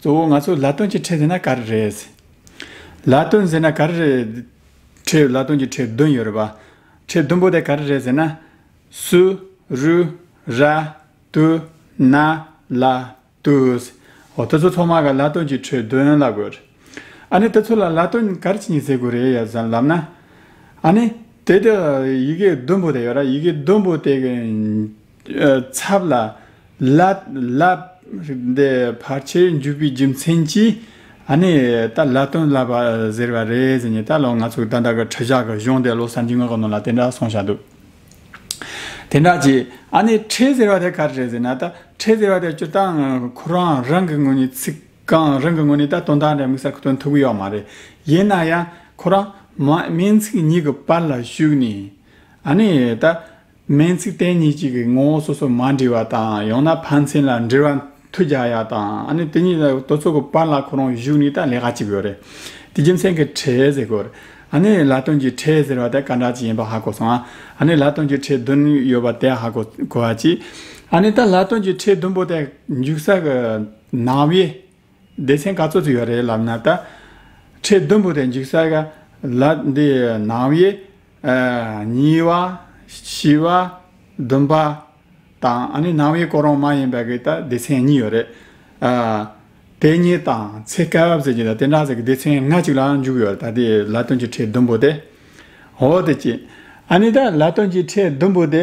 གཙོ་བོ་ང་ཚོ་ལ་དོན་གྱི་ཁྲལ་ཟེར་ན་ག་རེ་རེད། ལ་དོན་ཟེར་ན་ག་རེ་རེད། ཁྲལ་ལ་དོན་གྱི་ཁྲལ་བདུན་ཡོད་རེད་པ། ཁྲལ་བདུན་པོ་དེ་ག་རེ་རེད་ཟེར་ན། སུ། རུ། ར། དུ། ན། ལ། དུས། འོ་དེ་ཚོ་ཚོགས་མ་ག་ལ་དོན་གྱི་ཁྲལ་བདུན་ལ་དགོས། ཨ་ནི་དེ་ཚོ་ལ་ལ་དོན་ག་རེ་བྱེད་ཉི་ཟེར་དགོས་རེད་ཡ་བཟའ་ལབ་ན། ཨ་ནི། དེ་དེ། ཡི་གེ་བདུན་པོ་དེ་ཡོད་ར་ཡི་གེ་བདུན་པོ་དེ། ཚབ་ལ། ལད། ལབ། འདི་ཕར་ཆེར་འཇུག་པའི་རྒྱུ་མཚན་གྱིས། ཨ་ནི། ད་ལད་དོན་ལབ་པ་ཟེར་བ་རེད་ཟེར་ནས་ད་ལོ་ང་ཚོ་དག་འདྲ་གི་ཁྲི་བཞག་གི་གཞུང་དེ་བློ་བསམ་གྱིས་ངོས་ཀྱི་ནང་ལ་དེ་འདྲ་སོང་བཞག་འདུག། དེ་འདྲ་གྱིས། ཨ་ནི་ཁྲི་ཟེར་བ་དེ་ག་རེ་རེད་ཟེར་ན་ད་ཁྲི་ཟེར་བ་དེ་སྤྱིར་བཏང་ཁོ་རང་རང་གི་ངོས་ནས་ཚིག་རྐང་རང་གི་ངོས་ནས་ད་དོན་དག་འདྲ་མིག་གསར་ཁུ་དོན་ཐུག་གི་ཡོད་མ་རེད། ཡིན་ན་ཡང་ཁོ་རང། སྨན་ཚིག་གཉིས་ཀྱི་བར་ལ་ཞུགས་ནས། ཨ་ནི། ད། སྨན་ཚིག་བསྟེན་གཉིས་གཅིག་གི་ངོ་བོ་སོ་སོར་མ་འདྲེས་པ་དང་ཡང་ན་ཕན་ཚན་ལ་འབྲེལ་བ་མཐུ་རྒྱ་ཡ་དང་ཨ་ནི་དེ་གཉིས་ལ་དོ་ཚོགས་ཀྱི་བར་ལ་ཁོ་རང་བཞུགས་ནས་ད་ལས་ཀ་བྱེད་དགོས་རེད་དེ་རྒྱུ་མཚན་གྱི་ཁྲེས་ཟེར་དགོས་རེད་ཨ་ནི་ལ་སྟོན་གྱི་ཁྲེས་ཟེར་བ་དེ་ག་འདྲ་ཅིག་ཡིན་པ་ཧ་གོ་སོང་ཨ་ནི་ལ་སྟོན་གྱི་ཁྲེས་བདུན་ཡོད་པ་དེ་ཧ་གོ་གོ་ཨ་ཅེ་ཨ་ནི་ད་ལ་སྟོན་གྱི་ཁྲེས་བདུན་པོ་དེ་འཇུག་ས་གི་ནང་བའི། སྡེ་ཚན་ག་ཚོད་ཅིག་ཡོད་རེད་ལབ་ན་ད། ཁྲི་བདུན་པོ་དེ་འཇིག་ས་ག་ལ་འདི་ནང་བའི། གཉིས་བ། བཞི་བ། བདུན་པ། དང་ཨ་ནི་ནང་བའི་སྐོར་རོང་མ་ཡིན་པ་གི་ད་སྡེ་ཚན་གཉིས་ཡོད་རེད། དེ་གཉིས་དང་ཚེ་སྐབས་ཟེར་གྱི་ད་དེ་འདྲ་ཟེར་གི་སྡེ་ཚན་ལྔ་ཅིག་ལ་འཇུག་ཡོད་རེད་ད་དེ་ལ་སྟོན་གྱི་ཁྲི་བདུན་པོ་དེ། འོ་དེ་ཅི། ཨ་ནི་ད་ལ་སྟོན་གྱི་ཁྲི་བདུན་པོ་དེ།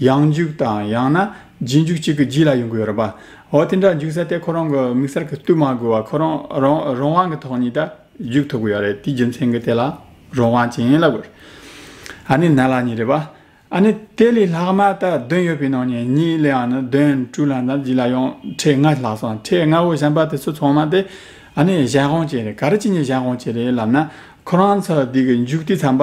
ཡང་འཇུག་དང་ཡང་ན་རྗེས་འཇུག་གཅིག་གི་རྗེས་ལ་ཡོང་གི་ཡོད་རེད་པ། འོ་དེ་འདྲ་འཇུག་ས་དེ་ཁོ་རང་གི་མིག་སར་གྱི་སྟུད་མ་དགོས་བར་ཁོ་རང་རང་དབང་གི་ཐོག་ནས་ད་འཇུག་ཐུབ་གི་ཡོད་རེད་དེའི་རྒྱུ་མཚན་གྱི་དེ་ལ་རང་དབང་ཅན་ལ་དགོས། ཨ་ནི་ནད་ལ་ཉེ་རེད་པ། ཨ་ནི་དེ་ལས་ལྷག་མ་ད་བདུན་ཡོད་པའི་ནང་ནས་གཉིས་ལས་ཡང་ན་བདུན་དྲུག་ལ་ན་བཞི་ལ་ཡང་ཁྲེས་ལྔ་ལྷག་སོང་ཁྲེས་ལྔ་བོ་གཞན་པ་དེ་ཚོ་ཚང་མ་དེ་ཨ་ནི་གཞན་དབང་ཅན་རེད་ག་རེ་ཅི་ཉིད་གཞན་དབང་ཅན་རེད་ལབ་ན་ཁོ་རང་ཚོ་དེ་གི་འཇུག་དེ་ཚན་པ།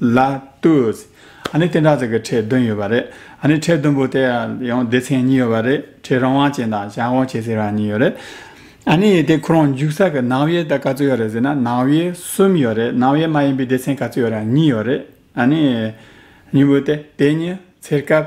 ལ་ལྟོས། ཨ་ནི་བསྟན་དགྲ་བཙན་གྱི་ཁྲལ་བདུན་ཡོད་པ་རེད། ཨ་ནི་ཁྲལ་བདུན་པོ་དེ་ཡང་སྡེ་ཚན་གཉིས་ཡོད་པ་རེད། ཁྲལ་རང་དབང་ཅན་དང་གཞན་དབང་ཆེ་ཟེར་བ་གཉིས་ཡོད་རེད། ཨ་ནི་དེ་ཁོ་རང་འཇུག་ས་གི་ནང་དབྱེ་ད་ག་ཚོད་ཡོད་རེད་ཟེར་ན་ནང་དབྱེ་གསུམ་ཡོད་རེད་ནང་དབྱེ་མ་ཡིན་པའི་སྡེ་ཚན་ག་ཚོད་ཡོད་ར་གཉིས་ཡོད་རེད། ཨ་ནི། གཉིས་པོ་དེ་དེ་གཉིས་ཚེར་སྐབས།